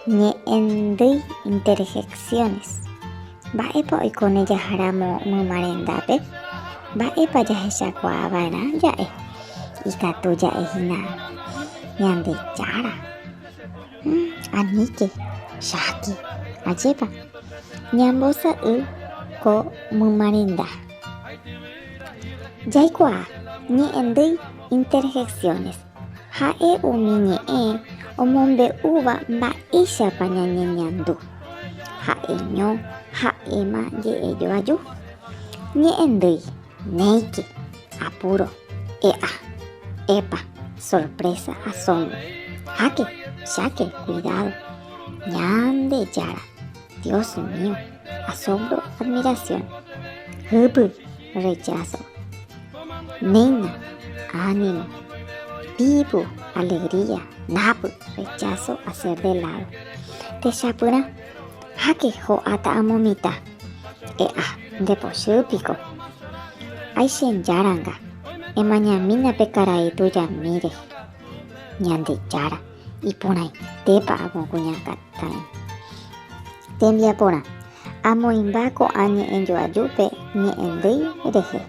Ñe'ẽndýi interjecciones. Mba'épa oikóne jaharamo myma rendápe? Mba'épa jahechakuaava'erã ja'e? Ikatu ja'e hína Ñandejára. Aníke, cháke. Ajépa. Ñambosa'y ko myma renda. Jaikuaa. Ñe'ẽndýi interjecciones. Ha'e umi ñe'ẽ omombe'úva mba'éichapa ñañeñandu. Ha'eño ha'éma je'e joaju. Ñe'ẽndýi, néike, apúro, e'a, epa, sorprésa, asómbro, háke, cháke, kuidádo, Ñandejára. Dios mío, asombro, admiración. Hypy, rechazo. Néina, ánimo. Vivo, alegría. Napy, rechazo, hacer de lado. Techapyrã, háke ho'áta amo mitã. E'a, ndepochy piko. Aichejáranga, emañamína pe karai tujamíre. Ñandejára. iporãitépa ag̃ua kuñakarai. Tembiaporã, amoĩmba ko'ã ñe'ẽjoajúpe ñe'ẽndýi rehe.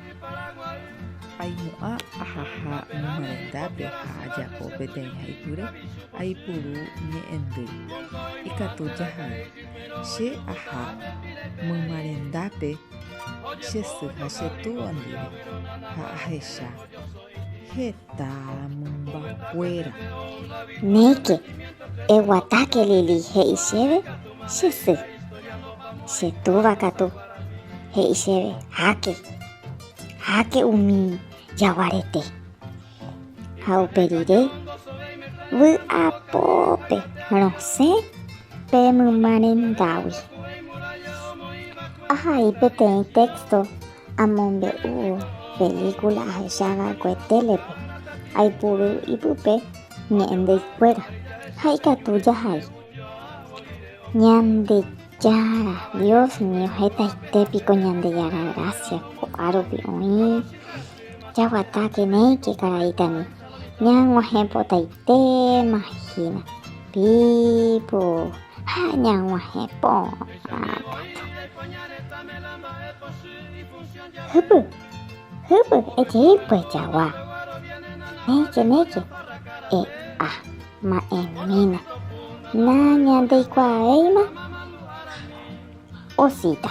Aimo'ã ahaha ñemoarandápe ha ajapo peteĩ haipyre, aipuru ñe'ẽndýi. Ikatu jaha'ỹ. Che aha mymarendápe che sy ha che túva ndive ha ahecha. Heta. heta mymbakuéra. Néike, eguatáke Lili he'i chéve che sy. Che túva katu he'i chéve, háke, háke umi jaguarete. Ha upe rire vy'apópe rosẽ pe mymarendágui. Ahai peteĩ téxto Amombe'u pelíkula ahecha va'ekue télepe, aipuru ipype ñe'ẽndeikuéra ha ikatu jahai. Ñandejára Dios ningo hetaite piko Ñandejára grásia ko'árupi oĩ jaguatáke néike karaítami ñag̃uahẽpotaite. Téma hína, pipo ha ñag̃uahẽ porã katu. Hypy, hypy, ejei pyjagua. Néike, néike, e'a ma'ẽmína. Nañandeikuaávéima osita.